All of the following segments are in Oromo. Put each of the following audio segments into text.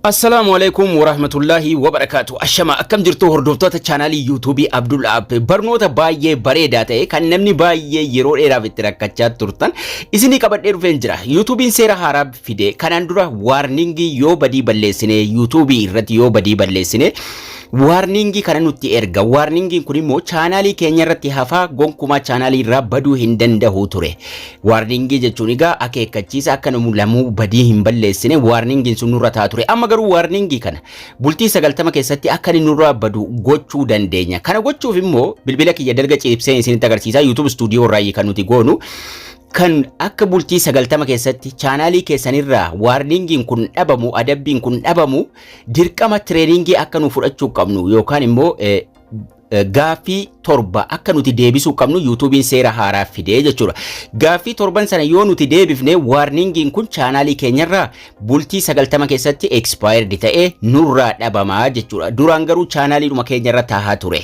Assalaamu alaikum warahmatullaahi wabarakaatu. Ashama akkam jirtu hordoftoota chaanaalii yuutuubii Abdul App barnoota baay'ee bareedaa ta'e kan namni baay'ee yeroo dheeraaf itti rakkachaa turtan isinii qabadhee dhufeen jira. Yuutuubiin seera haaraa fide kanaan dura waarningii yoo badii balleessine yuutuubii irratti yoo badii balleessine waarningii kana nutti erga. Waarningiin kun immoo chaanaalii keenya irratti hafaa gonkumaa chaanaalii irraa baduu hin danda'u ture. Waarningii jechuun egaa akeekkachiisa akka nu lamuu badii hin balleessine waarningiin sun nurra ta'a ture. Amma garuu waarningii kana bultii sagaltama keessatti akka inni nurraa badu gochuu dandeenya. Kana gochuuf immoo bilbila kiyya dalga ciibseen isinitti agarsiisaa YouTube stuudiyoo irraa kan nuti goonu kan akka bultii sagaltama keessatti chaanaalii keessanirraa waarningiin kun dhabamu adabbiin kun dhabamu dirqama tireeningii akka nu fudhachuu qabnu yookaan immoo Gaaffii torba akka nuti deebisuu qabnu yuutuubiin seera haaraa fidee jechuudha. Gaaffii torban sana yoo nuti deebifne waarningiin kun chaanaalii keenyarraa bultii 90 keessatti expired ta'ee nurraa dhabamaa jechuudha. Duraan garuu chaanaaliidhuma keenyarra tahaa ture.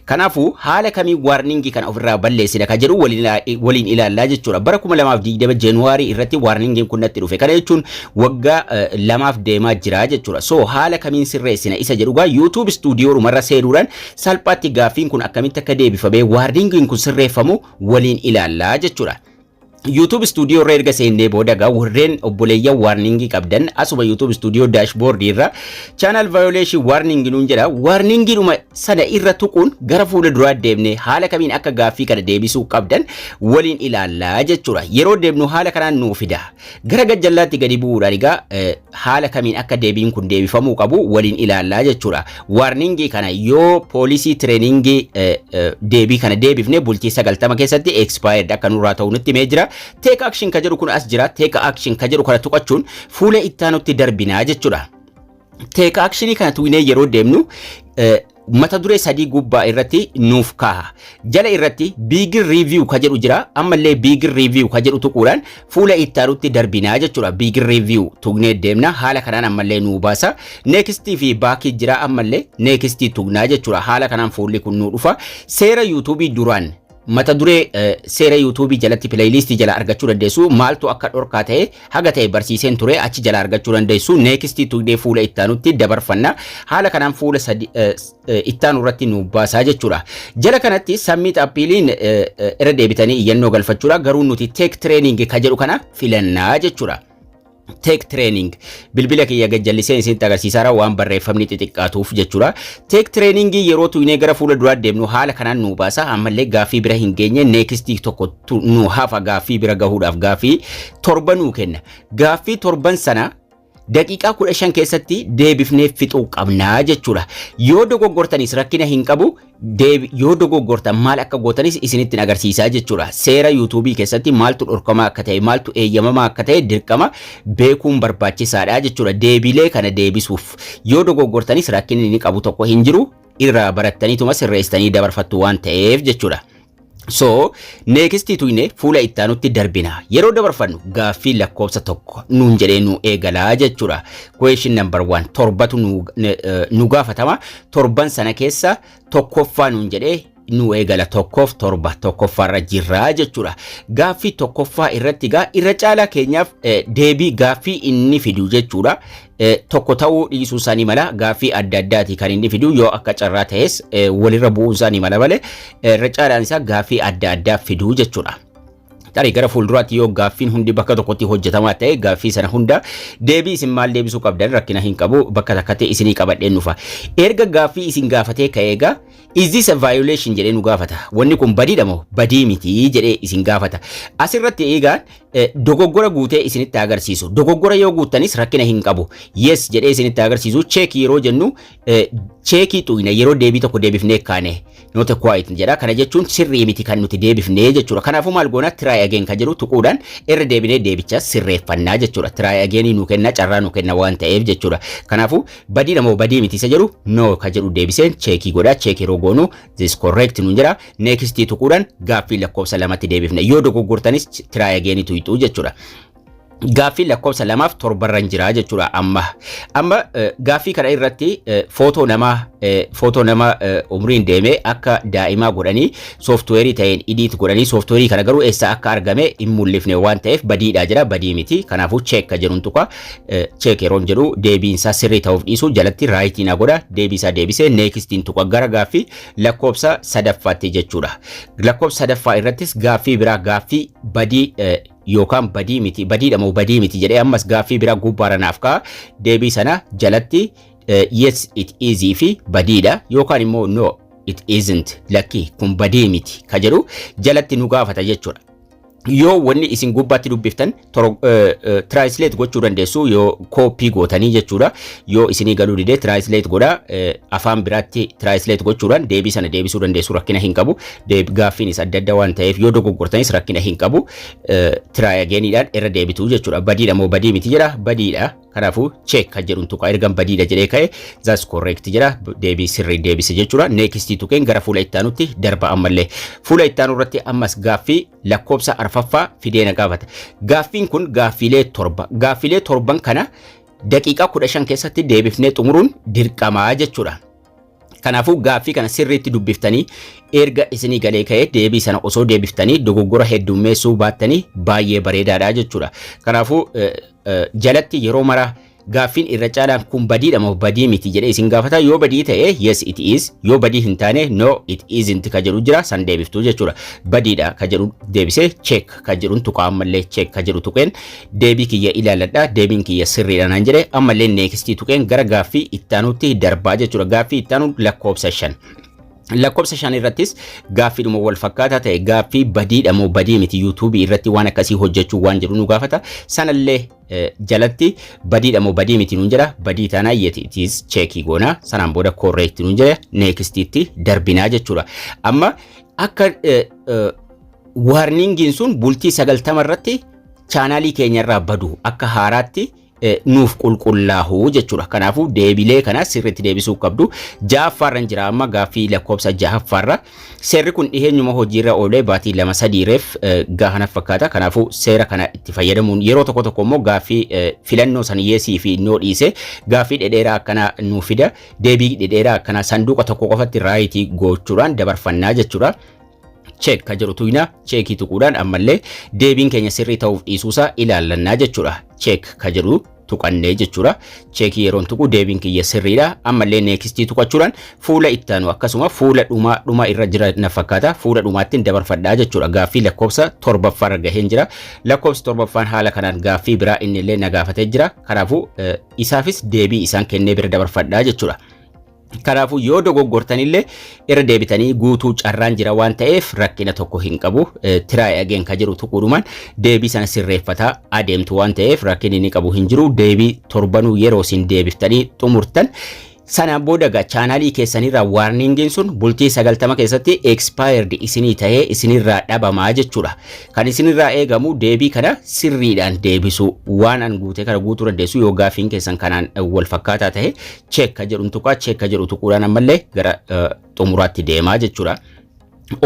Kanaafuu haala kamiin waarningii kana ofirraa balleessina kan jedhu waliin ilaallaa jechuudha. Bara 2020 January irratti waarningiin kun natti dhufe. Kana jechuun waggaa eh, lamaaf deemaa jira jechuudha. So haala kamiin sirreessina isa jedhu gaa YouTube studio dhumarra seenuudhaan salphaatti gaaffiin kun akkamitti akka deebifamee waarningiin kun sirreeffamu waliin ilaallaa jechuudha. YouTube studio irra erga seennee booda gaa warreen obboleeyyan waarningii qabdan asuma YouTube studio dashboard irra channel violation warning nuun jedha warningiidhuma sana irra tuquun gara fuula duraa deemnee haala kamiin akka gaaffii kana deebisuu qabdan waliin ilaallaa jechuudha. Yeroo deemnu haala kanaan nuu fida. Gara gajjallaatti gadi bu'uudhaan egaa eh, haala kamiin akka deebiin kun deebifamuu qabu waliin ilaallaa jechuudha. Waarningii kana yoo poolisii tireeningii eh, eh, deebii kana deebifne bultii sagaltama keessatti expired akka nurraa ta'u nutti himee jira. Take action ka jedhu kun as jira. Take action ka jedhu kana tuqachuun fuula ittaanutti darbinaa jechuudha. Teek akshinii kana tuqnee yeroo deemnu mata duree sadii gubbaa irratti nuuf kaaha. Jala irratti biigir riiviyuu ka jedhu jira. Ammallee biigir riiviyuu ka jedhu tuquudhaan fuula itti aanutti darbinaa jechuudha. Biigir riiviyuu tuqnee deemna. Haala kanaan ammallee nuu baasa. Neekistii fi baakii jira ammallee neekistii tuqnaa jechuudha. Haala kanaan fuulli kun nuu dhufa. Seera yuutuubii duraan mata duree eh, seera yuutuubii jalatti pileeyiliistii jala argachuu dandeessu maaltu akka dhorkaa ta'e haga ta'e barsiiseen ture achi jala argachuu dandeessu neekistii tuqdee fuula ittaanutti dabarfanna haala kanaan fuula sadi- eh, s- eh, ittaanu irratti nu baasaa jechuudha jala kanatti sammiit appiiliin eh, eh, irra deebitanii iyyannoo galfachuudha garuu nuti teek tireeningi ka jedhu kana filannaa jechuudha Teek tireening bilbila kiyya gajjalliseen isinitti agarsiisaara waan barreeffamni xixiqqaatuuf jechuudha. Teek tireeningii yeroo tuynee gara fuula duraa deemnu haala kanaan nu baasa ammallee gaaffii bira hin geenye neekistii tokko nu hafa gaaffii bira gahuudhaaf gaaffii torba nuu kenna. Gaaffii torban sana daqiiqaa kudha shan keessatti deebifnee fixuu qabna jechuudha. Yoo dogoggortanis rakkina hin qabu Deebi, Yoo dogoggortan maal akka gootanis isinittin agarsiisa jechuudha. Seera YouTube keessatti maaltu dhorkamaa akka ta'e, maaltu eeyyamamaa akka ta'e dirqama beekuun barbaachisaadha jechuudha. Deebiilee kana deebisuuf yoo dogoggortanis rakkinni inni qabu tokko hin jiru. Irraa barattaniituma sirreessitanii dabarfattu waan ta'eef jechuudha. So, next tuyne fuula itti aanutti darbina. Yeroo dabarfannu gaaffii lakkoofsa tokko nuun jedhee nu eegalaa jechuudha. Question number one torbatu nu, ne- eh, nu gaafatama. Torban sana keessa tokkoffaa nuun jedhee nu eegala tokkoof torba tokkoffaarra jirra jechuudha. Gaaffii tokkoffaa irratti gaa irra caalaa keenyaaf eh, deebii gaaffii inni fidu jechuudha. tokko ta'uu dhiisuu isaa ni mala gaaffii adda addaati kan inni fidu yoo akka carraa ta'es walirra bu'uun isaa ni mala malee irra caalaan isaa gaaffii adda addaa fiduu jechuudha. Tarii gara fuulduraatti yoo gaaffiin hundi bakka tokkotti hojjetamaa ta'e gaaffii sana hunda deebii isin maal deebisuu qabdan rakkina hin qabu bakka takkatti isinii qabadheen dhufa. Erga gaaffii isin gaafatee ka'ee egaa is this a violation jedhee nu gaafata. Wanni kun badiidha moo badii miti jedhee isin gaafata. Asirratti eegaan Eh, dogoggora guutee isinitti haa agarsiisu. Dogoggora yoo guuttanis rakkina hin qabu. Yes jedhee isinitti haa agarsiisu. Cheekii yeroo jennu eh, cheekii xuyna yeroo deebii tokko deebifnee kaane not a quite jedha. Kana jechuun sirrii miti kan nuti deebifnee jechuudha. Kanaafuu maal goona try again kan jedhu tuquudhaan irra deebinee deebicha sirreeffannaa jechuudha. Try again nu kenna carraa nu kenna waan ta'eef jechuudha. Kanaafuu badii namoo badii miti isa jedhu no kan jedhu deebiseen cheekii godha. Cheekii yeroo goonu This correct nuun jira. Next tuquudhaan gaaffii lakkoofsa lamatti deebifna. Yoo dogoggortanis try again tuqxu jechuudha. Gaaffii lakkoofsa lamaaf torbarran jira jechuudha amma. Amma eh, gaaffii kana irratti eh, footoo namaa eh, footoo nama eh, umriin deemee akka daa'imaa godhanii sooftuweerii ta'een idiit godhanii sooftuweerii kana garuu eessaa akka argame hin mul'ifne waan ta'eef badiidhaa jira badii miti kanaafuu cheekka jedhuun tuqa cheek yeroon jedhu deebiin isaa sirrii ta'uuf dhiisuu jalatti raayitii na godha deebii isaa deebisee neekistiin tuqa gara gaaffii lakkoofsa sadaffaatti jechuudha. Lakkoofsa sadaffaa irrattis gaaffii biraa gaaffii badii eh, yookaan badii miti badiidha moo badii miti jedhee ammas gaaffii biraa gubbaara naaf ka'a deebii sana jalatti eh, yes it is fi badiidha yookaan immoo no it isn't lakkii kun badii miti ka jedhu jalatti nu gaafata jechuudha. yoo wanni isin gubbaatti dubbiftan tiraayislate gochuu dandeessu yoo kooppii gootanii jechuudha yoo isinii galuu didee tiraayislate godha afaan biraatti tiraayislate gochuudhaan deebii sana deebisuu dandeessu rakkina hin qabu gaaffiinis adda adda waan ta'eef yoo dogoggortanis rakkina hin qabu tiraayageeniidhaan irra deebitu jechuudha badiidha moo badii miti jedha badiidha Kanaafuu check kan jedhuun tuqa ergan badiidha jedhee ka'e that's correct jedha deebii sirrii deebise jechuudha. Next tuqeen gara fuula itti aanutti darba ammallee. Fuula itti aanu irratti ammas gaaffii lakkoofsa arfaffaa fidee na gaafata. Gaaffiin kun gaaffiilee torba. Gaaffiilee torban kana daqiiqaa kudha shan keessatti deebifnee xumuruun dirqamaa jechuudha. Kanaafuu gaaffii kana sirriitti dubbiftanii erga isinii galee ka'ee deebii sana osoo deebiftanii dogoggora heddummeessuu baattanii baay'ee bareedaadha jechuudha. Kanaafuu jalatti yeroo mara gaaffiin irra caalaan kun badiidha moo badii miti jedhee isin gaafata yoo badii ta'e yes it is yoo badii hin taane no it isn't ka jedhu jira san deebiftuu jechuudha. Badiidha ka jedhu deebisee check ka jedhun tuqaa ammallee check ka jedhu tuqeen Deebii kiyya ilaaladha, deebiin kiyya sirriidha naan jedhe ammallee neekistii tuqeen gara gaaffii ittaanuutti darbaa jechuudha. Gaaffii ittaanuu lakkoofsa shan. Lakkoofsa shan irrattis gaaffiidhuma wal fakkaataa ta'e gaaffii badiidha moo badii miti yuutuubii irratti waan akkasii hojjechuu waan jedhu nu gaafata. Sanallee eh, jalatti badiidha moo badii miti nuun jedha badii taanaa yet it is cheekii goona sanaan booda correct nuun jedha neekistiitti darbinaa jechuudha. Amma akka eh, eh, waarningiin sun bultii sagaltama irratti chaanaalii keenya irraa badu akka haaraatti eh, nuuf qulqullaahu jechuudha. Kanaafuu deebilee kana sirriitti deebisuu qabdu. Jahaffaarran jira amma gaaffii lakkoofsa jahaffaarra. Seerri kun dhiheenyuma hojiirra oolee baatii lama sadiireef eh, gaahana fakkaata. Kanaafuu seera kana itti fayyadamuun yeroo tokko tokko immoo gaaffii eh, filannoo san yeesii fi noo dhiise gaaffii dhedheeraa akkana nuuf fida. Deebii dhedheeraa akkana sanduuqa tokko qofatti raayitii gochuudhaan dabarfannaa jechuudha. cheek ka jedhu tuqna cheekii tuquudhaan ammallee deebiin keenya sirrii ta'uuf dhiisuusaa ilaallannaa jechuudha. Cheek ka jedhu tuqannee jechuudha. Cheekii yeroon tuqu deebiin kiyya sirriidha. Ammallee neekistii tuqachuudhaan fuula itti aanu akkasuma fuula dhumaa dhuma irra jira na fakkaata. Fuula dhumaattiin dabarfadhaa jechuudha. Gaaffii lakkoofsa torbaffaa irra gaheen jira. Lakkoofsi torbaffaan haala kanaan gaaffii biraa inni illee na gaafatee jira. Kanaafuu isaafis deebii isaan kennee bira dabarfadhaa jechuudha. Kanaafuu yoo dogoggortanillee irra deebitanii guutuu carraan jira waan ta'eef rakkina tokko hin qabu. Tiraay ageen ka jiru tuquudhumaan deebii sana sirreeffataa adeemtu waan ta'eef rakkin inni qabu hin jiru. Deebii torbanuu yeroo isin deebiftanii xumurtan Sanaan booda egaa chaanaalii keessanirraa waarningiin sun bultii 90 keessatti expired isinii ta'ee isinirraa dhabamaa jechuudha. Kan isinirraa eegamu deebii kana sirriidhaan deebisuu waan an guutee kana guutuu dandeessu yoo gaafiin keessan kanaan wal fakkaataa ta'e check ka jedhun tuqaa check ka jedhu tuquudhaan ammallee gara eh, xumuraatti deemaa jechuudha.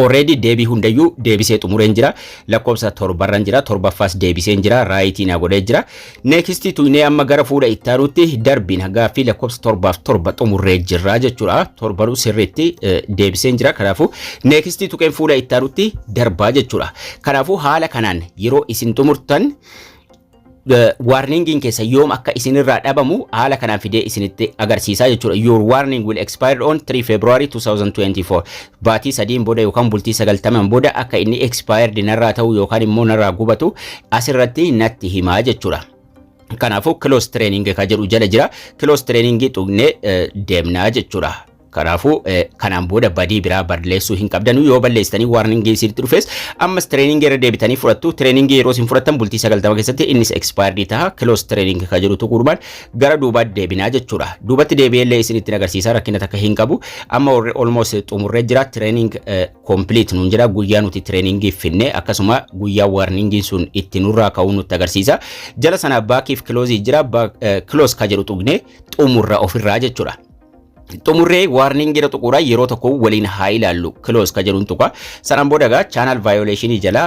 Already deebii hundayyuu deebisee xumureen jira. Lakkoofsa torbarran jira. Torbaffaas deebiseen jira. Raayitii na godhee jira. Next tuqnee amma gara fuula itti aanutti darbiin gaaffii lakkoofsa torbaaf torba xumurree jirra jechuudha. Torbaruu sirriitti eh, deebiseen jira. Kanaafuu next tuqeen fuula itti aanutti darbaa jechuudha. Kanaafuu haala kanaan yeroo isin xumurtan warningiin keessan yoom akka isinirraa dhabamu haala kanaan fidee isinitti agarsiisaa jechuudha. Your warning will expire on 3 February 2024. Baatii sadiin booda yookaan bultii sagaltamaan booda akka inni expired narraa ta'u yookaan immoo narraa gubatu asirratti natti himaa jechuudha. Kanaafuu close training kan jedhu jala jira. Close training tuqnee deemnaa jechuudha. Kanaafuu kanaan booda badii biraa balleessuu hin qabdanu yoo balleessitanii warning isinitti dhufes ammas training irra deebitanii fudhattu training yeroo isin fudhattan bultii 90 keessatti innis expired taha close training ka jedhu tuquudhumaan gara duubaatti deebinaa jechuudha duubatti deebi'ellee isinitti agarsiisa rakkina takka hin qabu amma warri almost xumurree jira training complete nuun jira guyyaa nuti training finne akkasuma guyyaa warning sun itti nurraa ka'uu nutti agarsiisa jala sana baakiif close jira close ka jedhu tuqne xumurra ofirraa jechuudha xumurree warning jedha tuquudha yeroo tokko waliin haa ilaallu close ka jedhuun tuqa sanaan booda egaa channel violation jala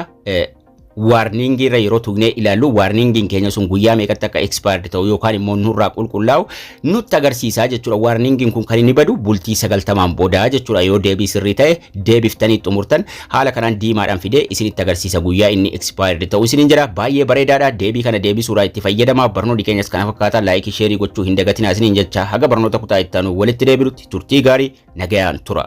warning irra yeroo tuqnee ilaallu warningin keenya sun guyyaa meeqatti akka expired ta'u yookaan immoo nurraa qulqullaa'u nutti agarsiisaa jechuudha warningin kun kan inni badu bultii sagaltamaan booda jechuudha yoo deebii sirrii ta'e deebiftanii xumurtan haala kanaan diimaadhaan fidee isinitti agarsiisa guyyaa inni expired ta'uu isiniin jedha baay'ee bareedaadha deebii kana deebisuudhaa itti fayyadama barnoonni keenyas kana fakkaataa laayikii sheerii gochuu hin dagatinaa isiniin jecha haga barnoota kutaa itti aanu walitti deebinutti turtii gaarii nagayaan tura.